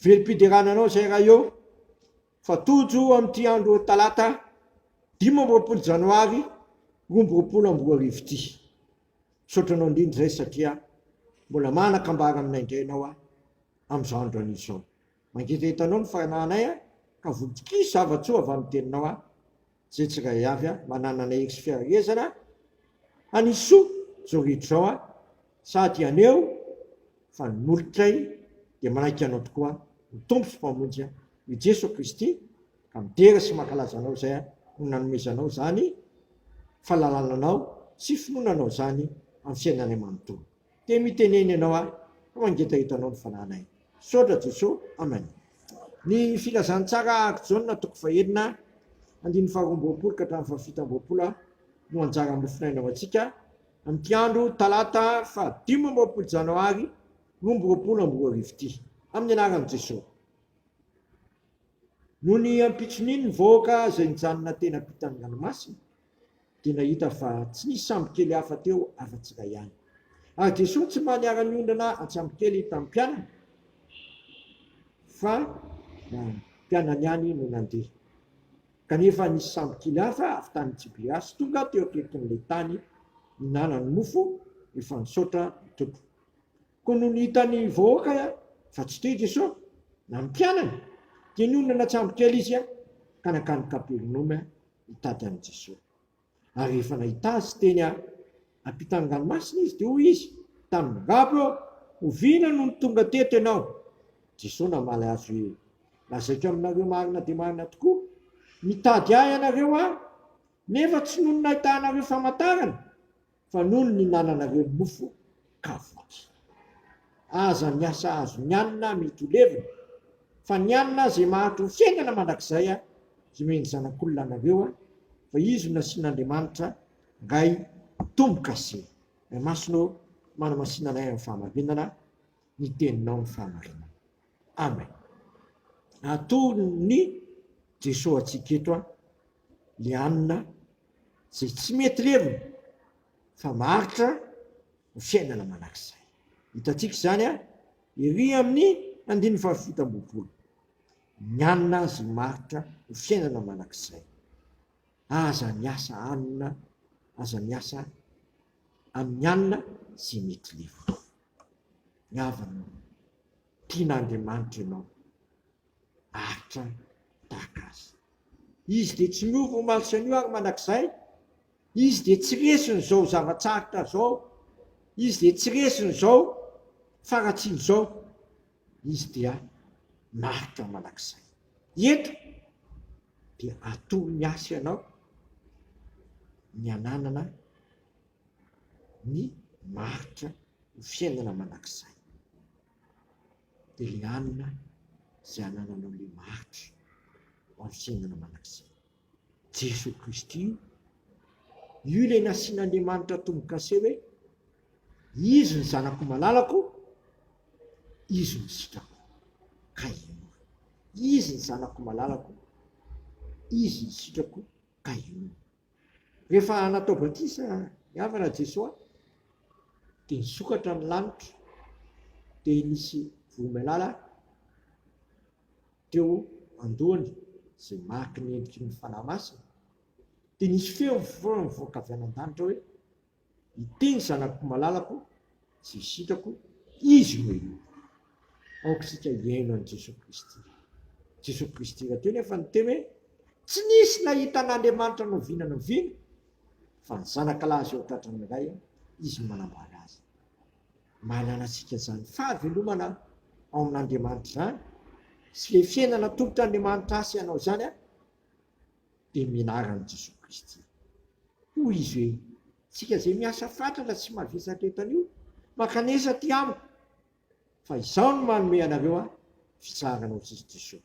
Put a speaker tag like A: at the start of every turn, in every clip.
A: Velom-piderana anao izay raha eo fa tojo amin'ity andro talata dimy amby roapolo janoary roa amby roapolo amby roa arivo ity. Misaotra anao indrindra izay satria mbola manan-kambara aminay indray ianao aho amin'izao andro anio izao. Mangetaheta anao ny fanahinay ka voky zava-tsoa avy amin'ny teninao aho. Ze tsiray avy a mananana hery sy fiarahezana hanisy soa zao rehetra izao a sady aneo fa ny molotray dia manaiky anao tokoa ny Tompo sy Mpamonjy a i Jeso Kristy ka midera sy mankalaza anao izay no nanomezanao zany falalananao sy finoananao zany amin'ny fiainanay manontolo. Te mitenena ianao aho fa mangetaheta anao ny fanahinay. Misaotra Jesoa. Amen. Ny Filazantsara Aky Jaona toko fahenina andininy faharoa amby roapolo ka hatramin'ny fahafito amby roapolo no anjara nofonaina ho antsika amin'ity andro talata fahadimy amby roapolo janoary roa amby roapolo amby roa arivo ity. Amin'ny anaran'i Jesoa. Noho ny ampitson'iny ny vahoaka izay nijanona teny am-pitan'ny ranomasina. Dia nahita fa tsy nisy sambokely hafa teo afa-tsy ilay ihany. Ary Jesoa tsy mba niara-niondrana an-tsambokely tamin'ny mpianany, fa ny mpianany ihany no nandeha. Kanefa nisy sambokely hafa avy tany Tiberiasy tonga teo akaikin'ilay tany nihinanany mofo efa nisaotra ny Tompo. Koa nony hitan'ny vahoaka fa tsy teo i Jesoa na ny mpianany, dia niondrana an-tsambokely izy ka nankany Kapernaomy hitady an'i Jesoa. Ary rehefa nahita Azy teny am-pitan'ny ranomasina Izy, dia hoy Izy tamin'ny babo eo, Oviana no nitonga teto Ianao? Jesoa namaly azy hoe, Lazaiko aminareo marina dia marina tokoa, nitady Ahy ianareo, Aho, nefa tsy noho ny nahitànareo famantarana, fa noho ny ninananareo mofo ka voky. Aza miasa azo ny hanina mety ho levona, fa ny hanina izay maharitry ny fiainana mandrakizay hinoen'ny zanak'olona anareo, fa izy no nasian'Andriamanitra Ray tombo-kase. Ray Masina ô, manamasina anay amin'ny fahamarinana, ny Teninao no fahamarinana. Amen. Aton'i Jeso antsika eto le hanina. izay tsy mety levona fa maharitra ny fiainana mandrakizay. Hitantsika izany ery amin'ny andininy fahafito ambin'ny folo. Ny hanina azy maharitra ho fiainana mandrakizay. Aza miasa hanina, aza miasa amin'ny hanina izay mety levona. Ny havana, tian'Andriamanitra ianao, aritra tahaka azy. Izy dia tsy miova omaly sy anio ary mandrakizay. Izy dia tsy resin'izao zava-tsarotra izao. Izy dia tsy resin'izao faharatsiana izao. Izy dia maritra mandrakizay. Eto dia atoro ny asa ianao ny ananana ny maritra ho fiainana mandrakizay. dia ilay alina izay anananao ilay mahantra ho amin'ny fiainana mandrakizay. Jesoa Kristy io. Io ilay nasian'Andriamanitra tombo-kase hoe Izy ny zanako malalako, Izy no sitrako. Ka inoako. Izy ny zanako malalako, Izy ny sitrako, ka inoako. Rehefa natao batisa ny havana an'i Jesoa dia nisokatra ny lanitra dia nisy vohimalala teo an-dohany izay mariky ny endriky ny Fanahy Masina dia nisy feo mivoaka avy any an-danitra hoe Iteny zanako malalako sy isitako izy no eo. Aoka isika hihaino an'i Jesoa Kristy. Jesoa Kristy raha teo nefa niteny hoe tsy nisy nahita an'Andriamanitra noviana noviana fa ny zanaka lahy izao tratran'ny ray izy no manambara azy. Mahalala antsika izany fahavelomana ao amin'Andriamanitra izany sy ilay fiainana tolotr'Andriamanitra asy hanao izany aho. dia mianara an'i Jesoa Kristy. Hoy izy hoe, Tsika izay miasa fatratra sy mavesatra eto anio, mankanesa aty amiko, fa izaho no manome anareo aho, fitsarana ao Kristy Jesoa.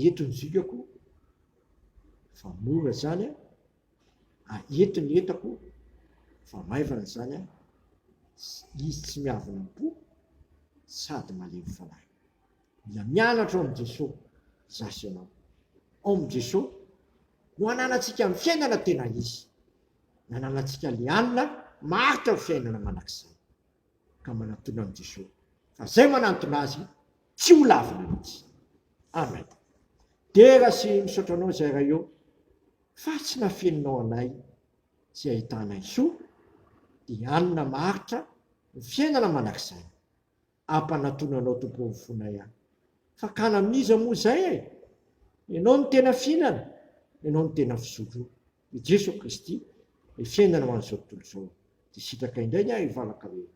A: Eto ny zokako, fa mora izany an, a eto ny entako, fa maivana izany an, izy tsy miavona am-po, sady malemy fanahy. Mila mianatra ao amin'i Jeso za sy ianao. Ao amin'i Jeso no ananantsika ny fiainana tena izy. Nananantsika le alina maharitra ny fiainana mandrakizay. Ka manatona amin'i Jeso fa zay manantona azy tsy ho lavina mihitsy. Amen. Dera sy misaotra anao zay Ray ô fa tsy nafeninao anay tsy ahitanay soa le alina maharitra ny fiainana mandrakizay. Ampanatona anao tompoko ny fonay a! Fakana amin'iza moa izay e! Ianao no tena fihinana, Ianao no tena fizotro. I Jeso Kristy ilay fiainana ho an'izao tontolo izao. Dia sitraka indray ny ahy hivalaka hoe,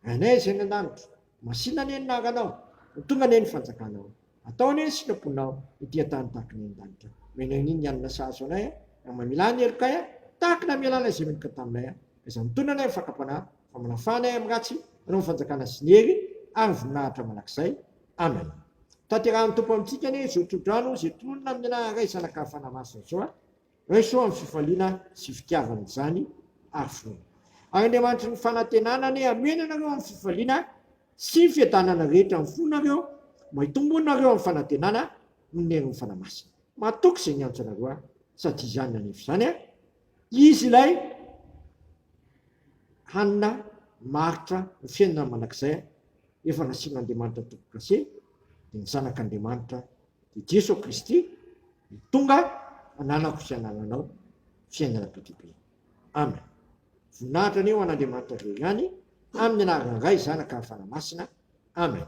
A: Rainay izay any an-danitra, masìna anie ny naranao, ho tonga anie ny fanjakanao. Atao anie ny sitraponao ety an-tany tahaka ny any an-danitra. Omena an'i Nini ny hanina sahaza anay a! Raha mamela ahy ny helokay a! Tahaka ny hamela an'ilay izay meloka taminay a! Aiza ny tonona anay amin'ny fakam-panahy, fa manafana ahy amin'ny ratsy, hanao ny fanjakana sy ny hery ary ny voninahitra mandrakizay. Amen. Tanterahin'ny Tompo amintsika anie izao trodrano izay tononina amin'ny anaran'Ray, Zanaka ary Fanahy Masina izao a! Raiso amin'ny fifaliana sy fitiavana izany ary finoana. Ary Andriamanitry ny fanantenana anie hamena anareo amin'ny fifaliana sy ny fiadanana rehetra amin'ny fonareo, mba hitombo nareo amin'ny fanantenana noho ny herin'ny Fanahy Masina. Matoky izay niantso anareo ahy, sady izany nanefa izany aho, Izy ilay hanina maharitra ny fiainana mandrakizay, efa nasian'Andriamanitra tompo-kase, dia ny Zanak'Andriamanitra dia Jeso Kristy no tonga hananako sy hanananao fiainana be dia be. Amen. Voninahitra anie ho an'Andriamanitra Ray ihany, amin'ny anaran'i Ray, Zanaka ary Fanahy Masina. Amen.